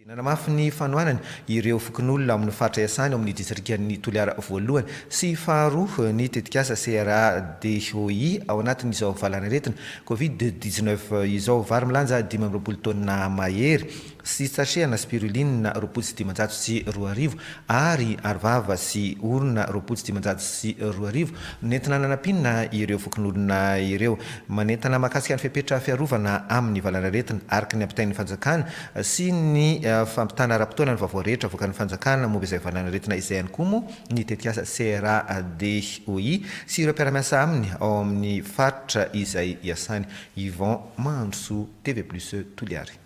Nanamafy ny fanohanany ireo fokonolona amin'ny faritra iasany ao amin'ny distrikan'i Toliara voalohany sy faharoa ny tetikasa CRADHOI ao anatin'izao valanaretina Covid dix-neuf izao. Vary milanja dimy amby roapolo taonina mahery sy sachets-na spiruline roapolo sy dimanjato sy roa arivo ary arovava sy orona roapolo sy dimanjato sy roa arivo no nentina nanampiana ireo fokonolona ireo. Manentana mahakasika ny fepetra fiarovana amin'ny valanaretina araka ny ampitain'ny fanjakana sy ny fampitana ara-potoana ny vaovao rehetra avoakan'ny fanjakana momba izay valanaretina izay ihany koa moa ny tetikasa CRADOI sy ireo mpiara-miasa aminy ao amin'ny faritra izay iasany. Yvon Mahandrosoa, TV Plus, Toliary.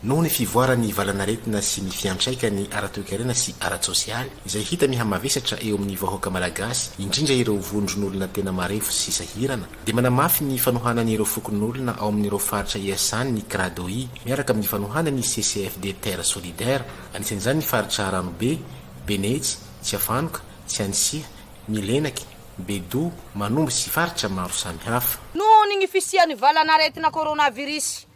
Noho ny fivoaran'ny valanaretina sy ny fiantraikany ara-toekarena sy ara-tsosialy izay hita mihamavesatra eo amin'ny vahoaka malagasy, indrindra ireo vondron'olona tena marefo sy sahirana, dia manamafy ny fanohanany ireo fokonolona ao amin'ireo faritra iasany ny Cradoi, miaraka amin'ny fanohanany ny CCFD Terre Solidaire, anisan'izany ny faritra Ranobe, Benetsy, Tsiafanoka, Tsianisiha, Milenaky, Bedoha, Manombo sy faritra maro samihafa. Noho ny fisian'ny valan'aretina coronavirus,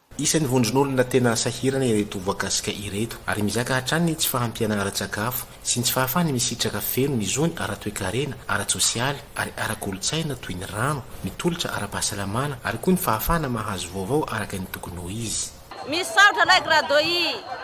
Isan'ny vondron'olona tena sahirana ireto voakasika ireto, ary mizaka hatrany ny tsy fahampiana ara-tsakafo sy ny tsy fahafahany misitraka feno ny zony ara-toekarena, ara-tsosialy ary ara-kolontsaina toy ny rano, ny tolotra ara-pahasalamana ary koa ny fahafahana mahazo vaovao araka ny tokony ho izy. Misaotra Ray Gradoy.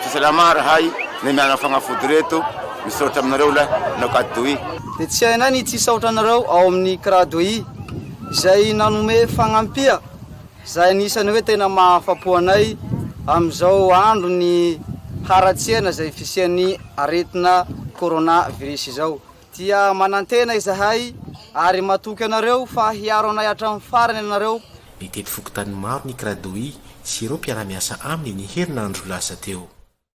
Tsy salama rahay ny miala fagnafody reto misaotra aminareo la na Kdoi. Dia tsy hainay ny tsy hisaotra anareo ao amin'ny Kdoi izay nanome fagnampia izay anisan'ny hoe tena mahafapo anay amin'izao andron'ny haratsiana izay fisian'ny aretina Corona virus izao. Dia manantena izahay ary matoky anareo fa hiaro anay hatramin'ny farany ianareo. Nitety fokontany maro ny Kradoi sy ireo mpiara-miasa aminy ny herinandro lasa teo.